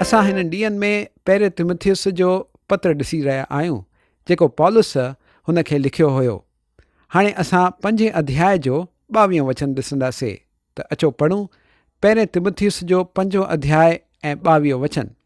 اسان هنن ڏينهن ۾ پهرين تموٿيوس جو پتر ڏسي رهيا آهيون، جيڪو پولس هن کي لکيو هيو. هاڻي اسان پنجين اڌياء جو ٻاويهون وچن ڏسنداسين ته اچو پڙهون پهرين تموٿيوس جو پنجون اڌياء ۽ ٻاويهون وچن.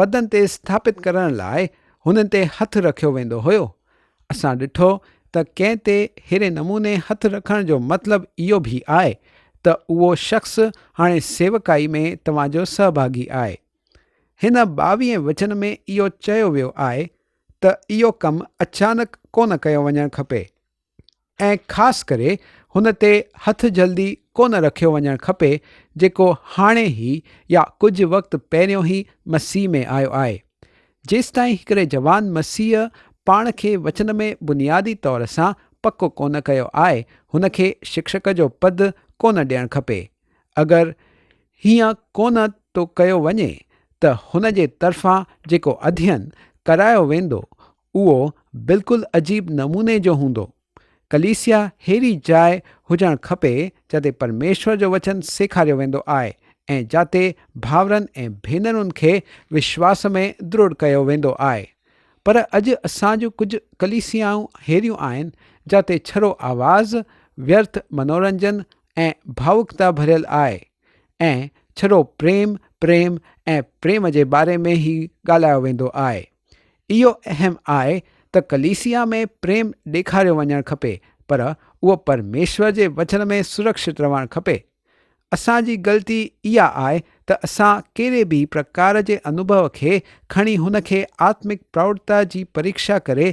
پدن تي اسٿاپت ڪرڻ لاء هنن تي هٿ رکيو ويندو هيو. اسان ڏٺو ته ڪنهن تي ههڙي نموني هٿ رکڻ جو مطلب اهو به آهي ته اهو شخص هاڻي سيوڪائي ۾ توهان جو سهڀاڳي آهي. هن ٻاويهين وچن ۾ اهو چيو ويو آهي ته اهو ڪم اچانڪ ڪونه ڪيو وڃڻ کپي. ۽ خاص ڪري هن تي هٿ جلدي ڪو نه رکيو وڃڻ کپي جيڪو هاڻي هي يا ڪجهه وقت پهريون هي مسيح ۾ آيو آهي. جيستائين هڪڙي جوان مسيح پاڻ کي وچن ۾ بنيادي طور سان پڪو ڪو نه ڪيو آهي هن کي شڪشڪ جو پد ڪو نه ڏيڻ کپي. اگر هيئن ڪو نه ٿو ڪيو وڃي ته هن جي طرفان جيڪو اڌين ڪرايو ويندو اهو بلڪل عجيب نموني جو هوندو. ڪليسيا ههڙي جاء هجڻ کپي جتي پرميشور جو وچن سيکاريو ويندو آء ۽ جاتي ڀائرن ۽ ڀينرن کي وشواس ۾ دروڙ ڪيو ويندو آء. پر اڄ اسان جون ڪجهه ڪليسيائون ههڙيون آهن جاتي ڇرو آواز، ويرٿ منورنجن ۽ ڀاوڪتا ڀريل آء ۽ ڇرو پريم، پريم ۽ پريم جي باري ۾ هي ڳالهايو ويندو آء. اهو اهم آهي ته ڪليسيا ۾ پريم ڏيکاريو وڃڻ کپي، پر اهو پرميشور جي وچن ۾ سرڪشت رهڻ کپي. اسان جي غلطي اها آهي ته اسان ڪهڙي به پرڪار جي انوڀو کي کڻي هن کي آتمڪ پروڙتا جي پريڪشا ڪري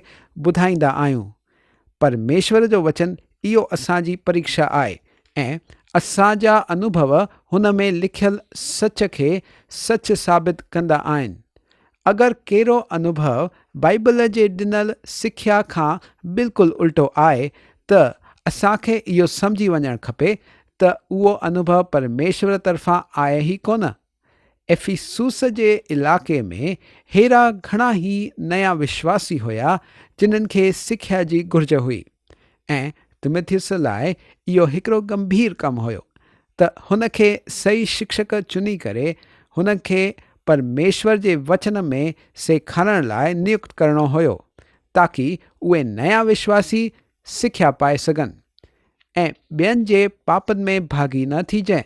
ٻڌائيندا آهيون. پرميشور جو وچن اهو اسان جي پريڪشا آهي ۽ اسان جا انوڀو هن ۾ لکيل سچ کي سچ ثابت ڪندا آهن. اگر ڪهڙو انوڀو بائيبل جي ڏنل سکيا کان بلڪل الٽو آهي ته اسان کي اهو سمجهي وڃڻ کپي ته اهو انوڀو پرميشور طرفان آهي ئي ڪونه. افيسوس جي علائقي ۾ هيرا گهڻا ئي نيا وشواسي هيا جنن کي سکيا جي گهرج هئي ۽ تموٿيوس لاء اهو هڪڙو ڳنڀير ڪم هيو ته هن کي صحيح شڪشڪ چني ڪري هن کي پرميشور جي وچن ۾ سيکارڻ لاء نيڪت ڪرڻو هيو تاڪي اهي نيا وشواسي سکيا پائي سگهن ۽ ٻين جي پاپن ۾ ڀاڳي نه ٿيجي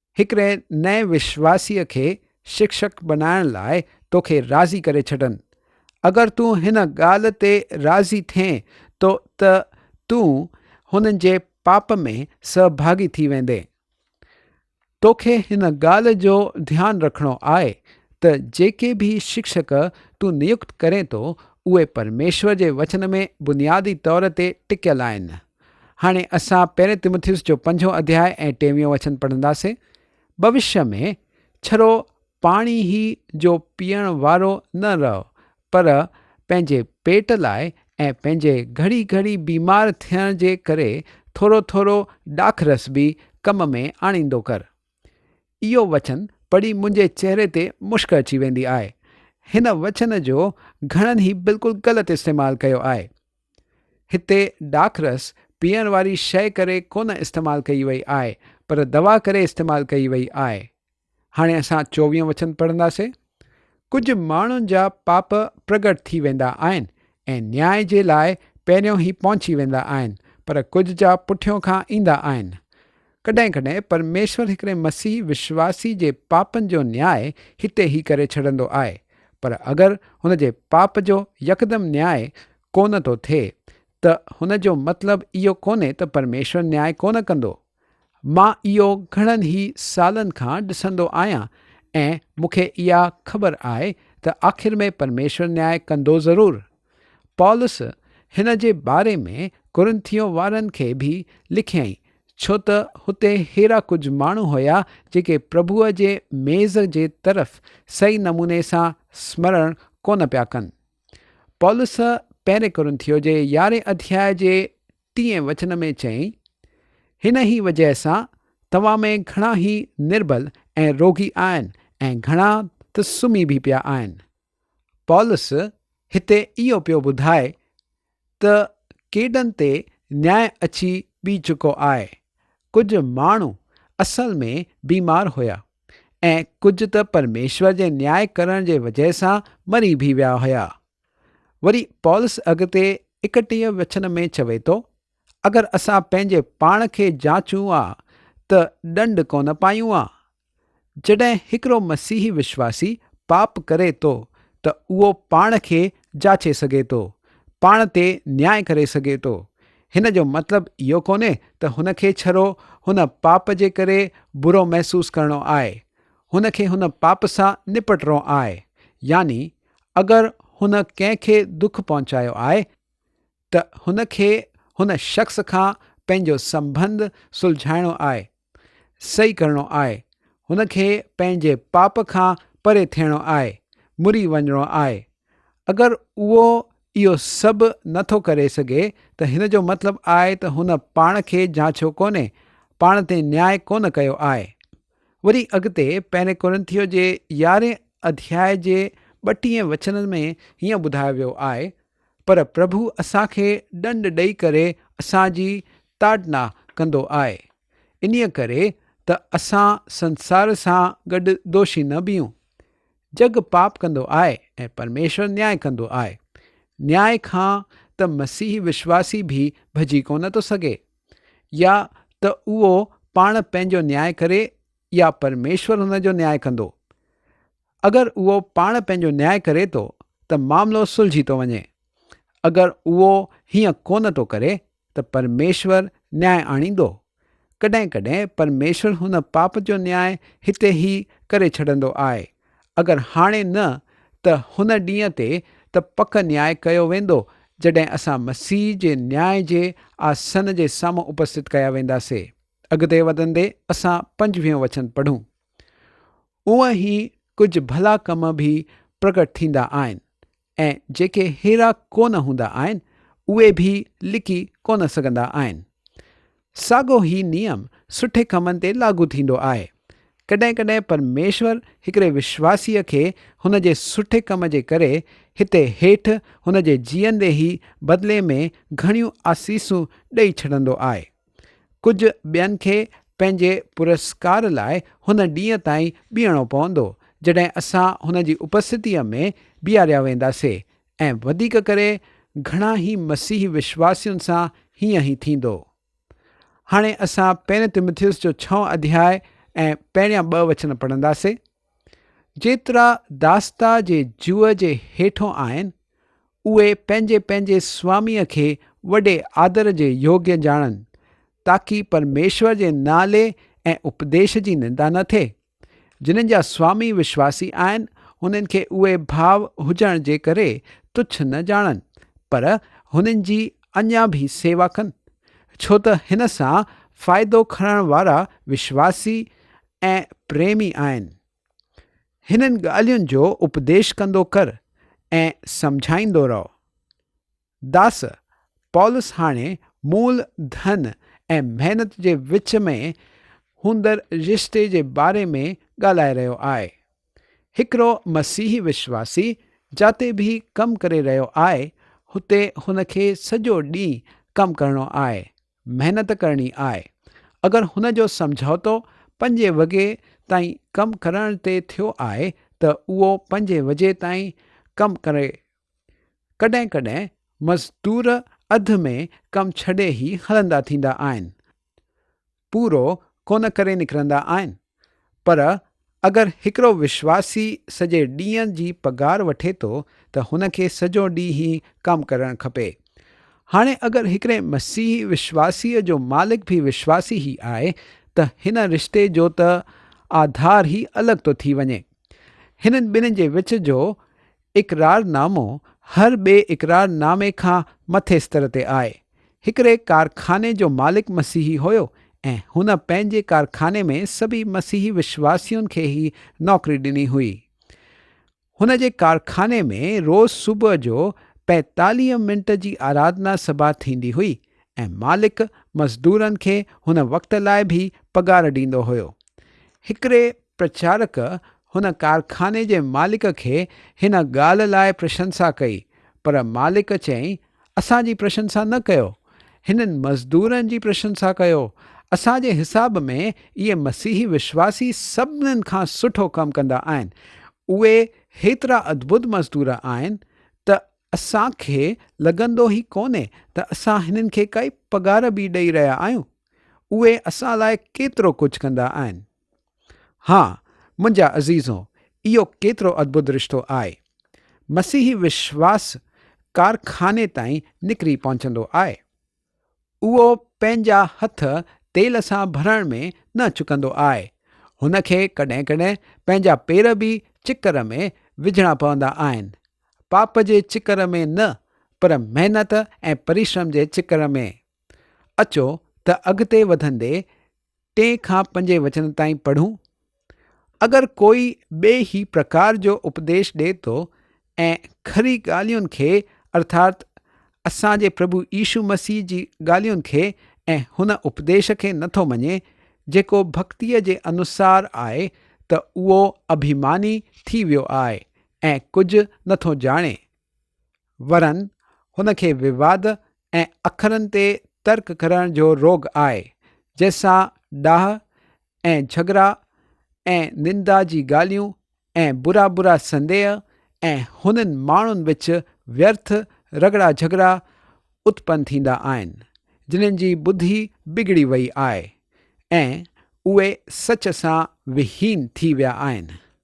هڪڙي نئين وشواسيء کي شڪشڪ بنائڻ لاء توکي راضي ڪري ڇڏن. اگر تون هن ڳالهه تي راضي ٿئين ته تون هنن جي پاپ ۾ سهڀاڳي ٿي ويندين. توکي هن ڳالهه جو ڌيان رکڻو آهي ته جيڪي به شڪشڪ تون نيڪت ڪرين ٿو، اهي پرميشور جي وچن ۾ بنيادي طور تي ٽڪيل آهن. هاڻي اسان پهرين تيموٿيوس جو پنجون اڌياء ۽ ٽيويون وچن پڙهنداسين. ڀوشيء ۾ ڇرو پاڻي هي جو پيئڻ وارو نه رهو، پر پنهنجي پيٽ لاء ۽ پنهنجي گهڙي گهڙي بيمار ٿيڻ جي ڪري ٿورو ٿورو ڏاک رس به ڪم ۾ آڻيندو ڪر. اهو وچن پڙهي منهنجي چهري تي مشڪ اچي ويندي آهي. هن وچن جو گهڻن هي بلڪل غلط استعمال ڪيو آهي. هتي ڏاکرس پيئڻ واري شيء ڪري ڪونه استعمال ڪئي وئي آهي پر دوا ڪري استعمال ڪئي وئي آهي. هاڻي اسان چوويهون وچن پڙهنداسي. ڪجهه ماڻهن جا پاپ پرگٽ ٿي ويندا آهن ۽ نياء جي لاء پهريون هي پهچي ويندا آهن پر ڪجهه جا پٺيون کان ايندا آهن. ڪڏهن ڪڏهن پرميشور هڪڙي مسيح وشواسي جي پاپن جو نياء هتي ئي ڪري ڇڏندو آهي، پر اگر هن جي پاپ جو يڪدم نياء ڪونه ٿو ٿئي ته هن جو مطلب اهو ڪونهي ته پرميشور نياء ڪونه ڪندو. مان اهو گهڻن ئي سالن کان ڏسندو آهيان ۽ مون کي اها خبر آهي ته آخر ۾ پرميشور نياء ڪندو ضرور. پولس هن جي باري ۾ ڪورنٿيو وارن کي به لکيائين، ڇو ته هتي اهڙا ڪجهه ماڻهو هيا جيڪي پرڀوء جي ميز جي طرف صحيح نموني سان سمرڻ ڪونه پيا ڪن. پولس پهرين ڪورنٿيو جي يارهين اڌياء جي ٽئين وچن ۾ چيائين، هن ئي وجهه سان توهان ۾ گهڻا هي نربل ۽ روڳي آهن ۽ گهڻا ته سمهي به پيا آهن. پولس هتي اهو پيو ٻڌائي ته ڪيڏن تي نياء اچي بيهي چڪو آهي. ڪجهه ماڻهو اصل ۾ بيمار هيا ۽ ڪجهه ته پرميشور جي نياء ڪرڻ جي وجهه سان مري به ويا هيا. وري پولس اڳتي ايڪٽيهه وچن ۾ چوي ٿو، اگر اسان پنهنجي پاڻ کي جاچون ها ته ڏنڊ ڪونه پايون ها، جڏهن هڪڙو مسيحي وشواسي پاپ ڪري ٿو ته اهو پاڻ کي جاچي سگهي ٿو، پاڻ تي نياء ڪري سگهي ٿو. هن جو مطلب اهو ڪونهي ته هن کي ڇڙو هن پاپ جي ڪري برو محسوس ڪرڻو آهي. هن کي هن پاپ سان نپٽرو آهي. يعني اگر هن ڪنهن کي دک پهچايو آهي ته هن کي هن شخص کان پنهنجو سنبنڌ سلجهائڻو آهي، صحيح ڪرڻو آهي، هن کي پنهنجي پاپ کان پري ٿيڻو آهي، مري وڃڻو آهي. اگر اهو اهو سڀ نه ٿو ڪري سگهي ته هن جو مطلب آهي ته هن پاڻ کي جانچيو ڪونهي، پاڻ تي نياء ڪونه ڪيو آهي. وري اڳتي پهرين ڪورنٿيو جي يارهين اڌياء جي ٻٽيهين وچن ۾ هيئن ٻڌايو ويو آهي ته پر پرڀو اسان کي ڏنڊ ڏئي ڪري اسان جي تاڙنا ڪندو آهي، انهيء ڪري ته اسان سنسار سان گڏ دوشي نه بيهون. جڳ پاپ ڪندو آهي ۽ پرميشور نياء ڪندو آهي. نياء کان ته مسيحي وشواسي به ڀڄي ڪونه ٿو سگهي. يا ته اهو پاڻ پنهنجو نياء ڪري يا پرميشور هن جو نياء ڪندو. اگر اهو پاڻ پنهنجو نياء ڪري ٿو ته معاملو سلجهي ٿو وڃي. اگر اهو هيئن ڪونه ٿو ڪري ته پرميشور نياء آڻيندو. ڪڏهن ڪڏهن پرميشور هن پاپ جو نياء هتي ئي ڪري ڇڏندو آء. اگر هاڻي نه ته هن ڏينهن تي ته پڪ نياء ڪيو ويندو جڏهن اسان مسيح جي نياء جي آ سن جي سامهون اپستت ڪيا وينداسي. اڳتي وڌندي اسان پنجويهون وچن پڙهون. اوهان هي ڪجهه ڀلا ڪم به پرگٽ ٿيندا آهن ۽ جيڪي هيرا ڪونه هوندا آهن اهي به لڪي ڪونه سگهندا آهن. ساڳو هي نيم سٺي ڪمن تي لاڳو ٿيندو آهي. ڪڏهن ڪڏهن پرميشور هڪڙي وشواسيء کي هن جي سٺي ڪم جي ڪري هتي هيٺ هن جي جيئندي ئي بدلي ۾ گهڻيون آسيسون ڏئي ڇڏندو آهي. ڪجهه ٻين کي پنهنجي پرسڪار لاء هن ڏينهن تائين بيهڻو پوندو، جڏهن اسان هن جي اپستتيء ۾ بيهاريا وينداسين، ۽ وڌيڪ ڪري گهڻا هي مسيحي وشواسين سان هيئن ئي ٿيندو. هاڻي اسان پهرين تموٿيوس جو ڇهون اڌياء ۽ پهريان ٻه وچن پڙهنداسين. جيترا داستا جي جوء جي هيٺون آهن، اهي پنهنجي پنهنجي سواميء کي وڏي آدر جي يوگيو ڄاڻن، تاڪي پرميشور جي نالي ۽ اپديش جي نندا نه ٿئي. جنن جا سوامي وشواسي آهن، هنن کي اهي ڀاء هجڻ جي ڪري تڇ نه ڄاڻن، پر هنن جي اڃا به سيوا ڪن، ڇو ته هن سان فائدو کڻڻ وارا وشواسي ۽ پريمي آهن. هنن ڳالهين جو اپديش ڪندو ڪر ۽ سمجهائيندو رهه. داس، پولس هاڻي مول ڌن ۽ محنت جي وچ ۾ هوندڙ رشتي جي باري ۾ ڳالهائي رهيو آهي. هڪڙو مسيحي وشواسي جاتي به ڪم ڪري رهيو آهي، هتي هن کي سڄو ڏينهن ڪم ڪرڻو آهي. محنت ڪرڻي آء. اگر هن جو سمجهوتو پنجين وڳي تائين ڪم ڪرڻ تي ٿيو آء ته اهو پنجين وجي تائين ڪم ڪري. ڪڏهن ڪڏهن مزدور اڌ ۾ ڪم ڇڏي هي هلندا ٿيندا آهن. پورو ڪونه ڪري نڪرندا آهن. پر اگر هڪڙو وشواسي سڄي ڏينهن جي پگهار وٺي ٿو ته هن کي سڄو ڏينهن ئي ڪم ڪرڻ کپي. هاڻي اگر هڪڙي مسيحي وشواسيء جو مالڪ به وشواسي ئي آهي ته هن رشتي جو ته آڌار ئي الڳ ٿو ٿي وڃي. هنن ٻنهي جي وچ جو اقرار نامو هر ٻئي اقرار نامي کان مٿي استر تي آهي. هڪڙي ڪارخاني جو مالڪ مسيحي هيو ۽ هن پنهنجي ڪارخاني ۾ سڀي مسيحي وشواسين کي هي نوڪري ڏني هئي. هن جي ڪارخاني ۾ روز صبح جو پيتاليهه منٽ جي آرادنا سڀا ٿيندي هئي ۽ مالڪ مزدورن کي هن وقت لاء به پگهار ڏيندو هيو. هڪڙي پرچارڪ هن ڪارخاني جي مالڪ کي هن ڳالهه لاء پرشنسا ڪئي پر مالڪ چيائين اسان جي پرشنسا نه ڪيو، هنن مزدورن جي پرشنسا ڪيو، اسان جي حساب ۾ اهي مسيحي وشواسي سڀنن کان سٺو ڪم ڪندا آهن، اهي هيترا ادبد مزدور آهن ته اسان کي لڳندو ئي ڪونهي ته اسان هنن کي ڪائي پگهار به ڏئي رهيا آهيون، اهي اسان لاء ڪيترو ڪجهه ڪندا آهن. ها منهنجا عزيزو اهو ڪيترو ادڀت رشتو آء. مسيحي وشواس ڪارخاني تائين نڪري پهچندو آء. اهو پنهنجا هٿ تيل سان ڀرڻ ۾ نه چڪندو آء. هن کي ڪڏهن ڪڏهن پنهنجا پير به چڪر ۾ وجهڻا پوندا آهن. پاپ جي چڪر ۾ نه پر محنت ۽ پريشرم جي چڪر ۾. اچو ته اڳتي وڌندي ٽئين کان پنجين وچن تائين پڙهون. اگر ڪوئي ٻئي هي پرڪار جو اپديش ڏئي ٿو ۽ کري ڳالهين کي ارٿات اسان جي پرڀو عيشو مسيح جي ڳالهين کي ۽ هن اپديش کي نه ٿو مڃي جيڪو ڀڪتيء جي انوسار آهي ته اهو اڀيماني ٿي ويو آهي ۽ ڪجهه نه ٿو ڄاڻي ورن هن کي وواد ۽ اکرن تي ترڪ ڪرڻ جو روڳ آهي، جنهن سان ڏاهه ۽ جهڳڙا ۽ نندا جي ڳالهيون ۽ برا برا سنديهه ۽ هنن ماڻهن وچ ويرٿ رڳڙا جهڳڙا اتپن ٿيندا آهن، جنهن جي ٻڌي بگڙي وئي آهي ۽ اهي سچ سان وهين ٿي ويا آهن.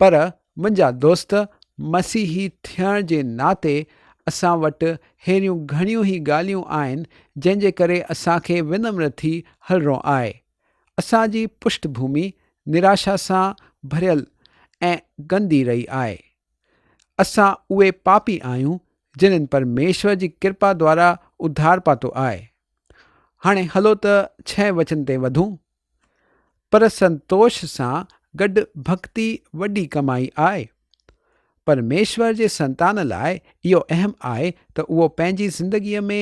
پر منهنجا دوست مسيحي ٿيڻ جي ناتي اسان وٽ ههڙيون گهڻيون ئي ڳالهيون آهن جنهن جي ڪري اسان کي ونمر ٿي هلڻو آهي. اسان جي پشت ڀومي نراشا سان ڀريل ۽ گندي رهي آهي. اسان اهي پاپي آهيون جنن پرميشور جي ڪرپا دوارا اڌار پاتو آهي. هاڻي هلو ته ڇهين وچن تي وڌون. پر سنتوش سان گڏ ڀڳتي وڏي ڪمائي آهي. پرميشور جي سنتان لاء اهو اهم آهي ته اهو پنهنجي زندگيء ۾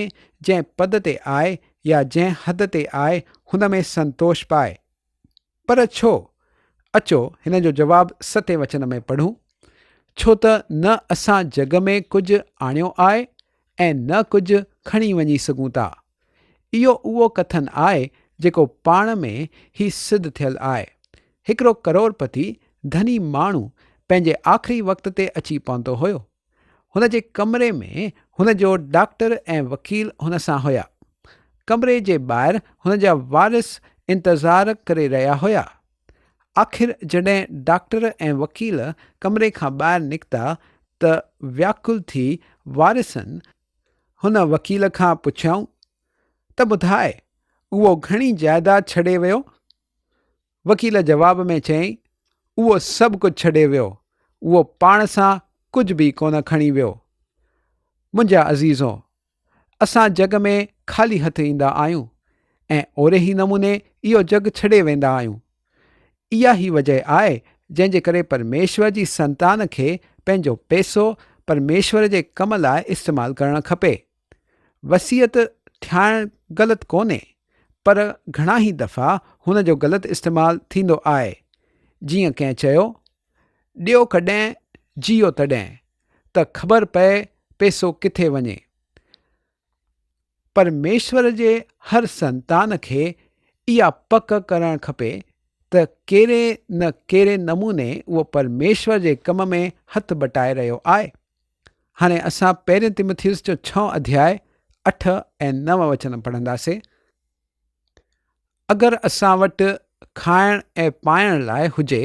جنهن پد تي آهي يا جنهن حد تي آهي هن ۾ سنتوش پائي. پر ڇو؟ اچو هن جو جواب ستين وچن ۾ پڙهون، ڇو ته نه اسان جڳ ۾ ڪجهه آڻيو آهي ۽ نه ڪجهه کڻي وڃي سگهون ٿا. اهو اهو ڪٿن آهي جيڪو پاڻ ۾ هي سڌ ٿيل آهي. هڪڙو ڪروڙپتي، ڌني، ماڻهو پنهنجي آخري وقت تي اچي پهتو هيو. هن جي ڪمري ۾ هن جو ڊاڪٽر ۽ وڪيل هن سان هيا. ڪمري جي ٻاهر هن جا وارث انتظار ڪري رهيا هيا. آخر جڏهن ڊاڪٽر ۽ وڪيل ڪمري کان ٻاهر نڪتا ته وياڪل ٿي وارثن، هن وڪيل کان پڇيائون ته ٻڌاء اهو گهڻي جائيداد ڇڏي ويو وڪيل جواب ۾ چيائين اهو سڀ ڪجهه ڇڏي ويو اهو پاڻ سان ڪجهه به ڪونه کڻي ويو منهنجا عزيزو اسان جڳ ۾ خالي هٿ ايندا آهيون ۽ اوري ئي نموني اهو جڳ ڇڏي ويندا آهيون اها ئي وجه آهي جنهن جي ڪري پرميشور جي سنتان کي پنهنجو پيسو پرميشور جي ڪم لاء استعمال ڪرڻ کپي. وصيت ٺاهڻ غلط ڪونهي پر گهڻا ئي دفعا هن جو غلط استعمال ٿيندو آهي. جيئن ڪنهن چيو، ڏيو ڪڏهن جيئو تڏهن ته خبر پئي پيسو ڪٿي وڃي. پرميشور جي هر سنتان کي اها پڪ ڪرڻ کپي ته ڪهڙي نه ڪهڙي نموني اهو پرميشور جي ڪم ۾ هٿ بٽائي رهيو آهي. هاڻي اسان پهرين تيموٿيوس جو ڇهون اڌياء اٺ ۽ نو وچن پڙهنداسين. اگر اسان وٽ کائڻ ۽ پائڻ لاء هجي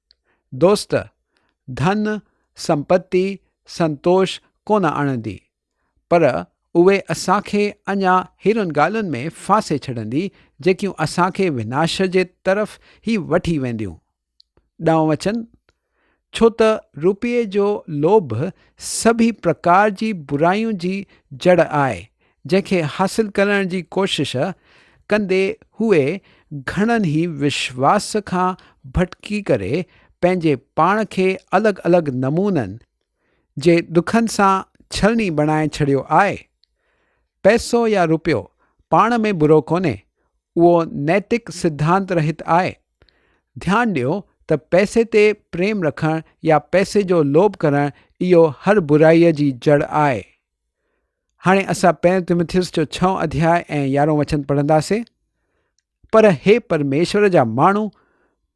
دوست! ڌن، سمپتي، سنتوش ڪونه آڻندي، پر اهي اسان کي اڃا هيرن ڳالهين ۾ ڦاسي ڇڏندي، جيڪيون اسان کي وناش جي طرف ئي وٺي وينديون. ڏانء وچن؟ ڇو ته روپيي جو لوڀ سڀيئي پرڪار جي برائين جي جڙ آهي جنهن کي حاصل ڪرڻ جي ڪوشش ڪندي هوء گهڻن ئي وشواس کان ڀٽڪي ڪري پنهنجي پاڻ کي الڳ الڳ نمونن جي ڏکن سان ڇلڻي بڻائي ڇڏيو آهي. پئسو يا روپيو پاڻ ۾ برو ڪونهي، اهو نيتڪ سڌانت رهت آهي. ڌيان ڏيو ته پئسي تي پريم رکڻ يا پئسي جو لوڀ ڪرڻ اهو هر برائيء جي جڙ آهي. هاڻي اسان پهريون تمٿيس جو ڇهون اڌياء ۽ يارهون وچن پڙهنداسين پر هي پرميشور جا ماڻهو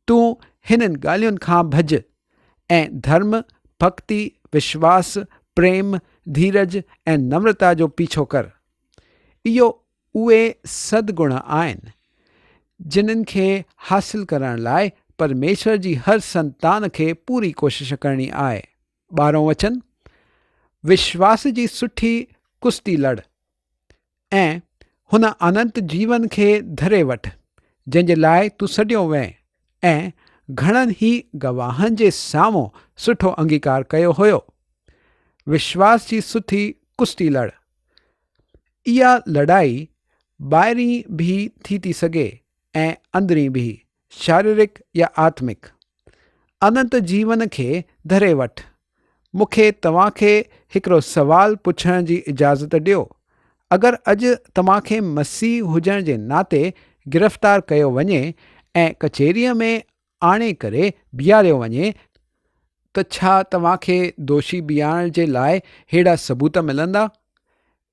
تون هنن ڳالهين کان ڀڄ ۽ ڌرم ڀڪتي وشواس پريم ڌيرج ۽ نمرتا جو پيڇو ڪر اهو اهي سد گڻ آهن جنن کي حاصل ڪرڻ لاء پرميشور جي هر سنتان کي پوري ڪوشش ڪرڻي آهي ٻارهون وچن، وشواس جي سٺي ڪشتي لڙ ۽ هن اننت جيون کي ڌري وٺ، جنهن جي لاء تون سڏيو وئين ۽ گهڻن ئي گواهن جي سامهون سٺو انگيڪار ڪيو هيو. وشواس جي سٺي ڪشتي لڙ. اها لڙائي ٻاهرين به ٿي ٿي سگهي ۽ اندرين به. شاريرڪ يا آتمڪ، اننت جيون کي ڌري وٺ. مون کي توهان کي هڪڙو سوال پڇڻ جي اجازت ڏيو، اگر اڄ توهان کي مسيح هجڻ جي ناتي گرفتار ڪيو وڃي ۽ ڪچهريء ۾ آڻي ڪري بيهاريو وڃي ته ڇا توهان کي دوشي بيهارڻ جي لاء ههڙا ثبوت ملندا؟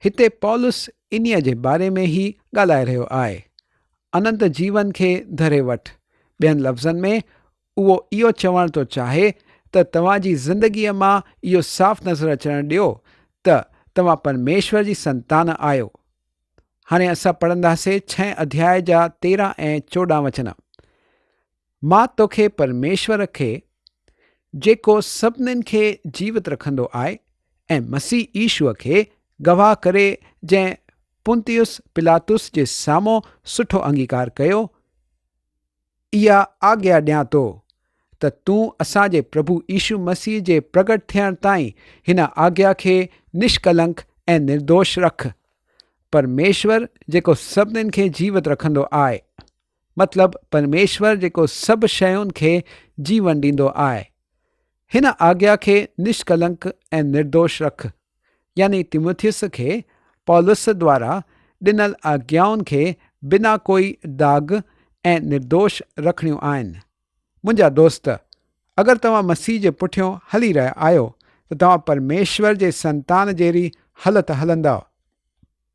هتي پولس انهيء جي باري ۾ ئي ڳالهائي رهيو آهي. اننت جيون کي ڌري وٺ. ٻين لفظن ۾ اهو اهو چوڻ ٿو چاهي ته توهان جي زندگيء مان اهو صاف نظر اچڻ ڏيو ته توهان پرميشور جي سنتان آهيو. هاڻي اسان پڙهنداسين ڇهين اڌياء جا تيرهن ۽ چوڏهن وچن. مان توکي پرميشور کي، جيڪو سڀنن کي جيوت رکندو آهي، ۽ مسيح عيسوء کي گواهه ڪري جنهن پنطيوس پلاطس جي سامهون سٺو انگيڪار ڪيو، اها آگيا ڏيان ٿو ته تون اسان جي پرڀو عيسو مسيح جي پرگٽ ٿيڻ تائين هن آگيا کي نشڪلنڪ ۽ نردوش رک. پرميشور جيڪو سڀنن کي جيوت رکندو آهي. مطلب پرميشور جيڪو سڀ شين کي جيون ڏيندو آء هن آگيا کي نشڪلنڪ ۽ نردوش رک. يعني تيموٿيس کي پولس دوارا ڏنل آگيائن کي بنا ڪوئي داغ ۽ نردوش رکڻيون آهن. منهنجا دوست، اگر توهان مسيح جي پٺيون هلي رهيا آهيو ته توهان پرميشور جي سنتان جهڙي هلت هلندؤ.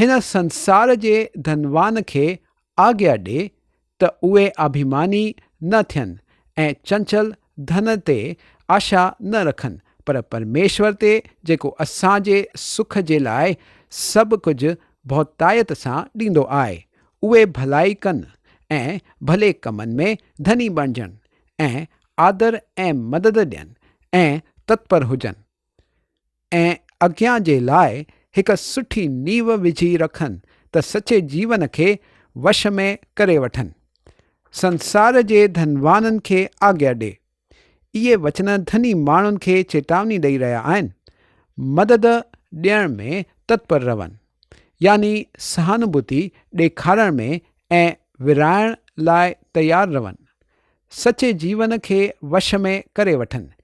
هن سنسار جي ڌنوان کي آگيا ڏي ته اهي آڀيماني نه ٿين ۽ چنچل ڌن تي آشا نه رکن پر پرميشور تي جيڪو اسان جي سک جي لاء سڀ ڪجهه ڀوتائيت سان ڏيندو آهي اهي ڀلائي ڪن ۽ ڀلي ڪمن ۾ ڌني بڻجن ۽ آدر ۽ مدد ڏين ۽ تتپر هجن. ۽ اڳيان جي لاء هڪ سٺي نينهن وجهي رکن ته سچي جيون کي وش ۾ ڪري وٺن. سنسار جي ڌنوانن کي آگيا ڏي. اهي وچن ڌني ماڻهن کي چيتاوني ڏئي رهيا آهن. مدد ڏيڻ ۾ تتپر رهن. يعني سهانوڀوتي ڏيکارڻ ۾ ۽ ورهائڻ لاء تيار رهن. سچي جيون کي وش ۾ ڪري وٺن.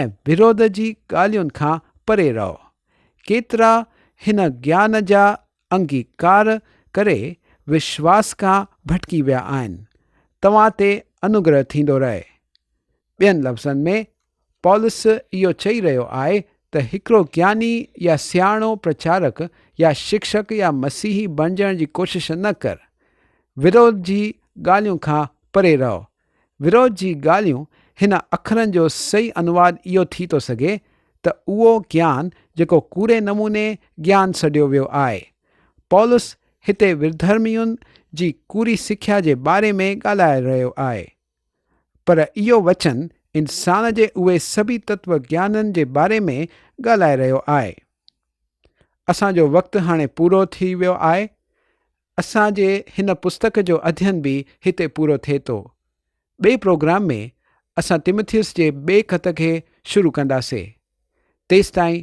۽ ورود جي ڳالهين کان پري رهو. ڪيترا هن گيان جا انگيڪار ڪري وشواس کان ڀٽڪي ويا آهن. توهان تي انوگره ٿيندو رهي. ٻين لفظن ۾ پولس اهو چئي رهيو آهي ته هڪڙو گياني يا سياڻو پرچارڪ يا شڪشڪ يا مسيحي بڻجڻ جي ڪوشش نه ڪر. ورود جي ڳالهين کان پري رهو. ويروچ جي ڳالهيون هن اکرن جو صحيح انواد اهو ٿي ٿو سگهي ته اهو گيان جيڪو ڪوڙي نموني گيان سڏيو ويو آهي. پولس هتي وردهرمين جي ڪوڙي سکيا جي باري ۾ ڳالهائي رهيو آهي. پر اهو وچن انسان جي اهي سڀئي تتو گيانن جي باري ۾ ڳالهائي رهيو آهي. اسان جو وقت هاڻي پورو ٿي ويو آهي. اسان جي هن پستڪ جو اڌين به هتي پورو ٿئي ٿو. ٻئي پروگرام ۾ اسان تيمٿيوس جي ٻئي خط کي شروع ڪنداسين. تيستائين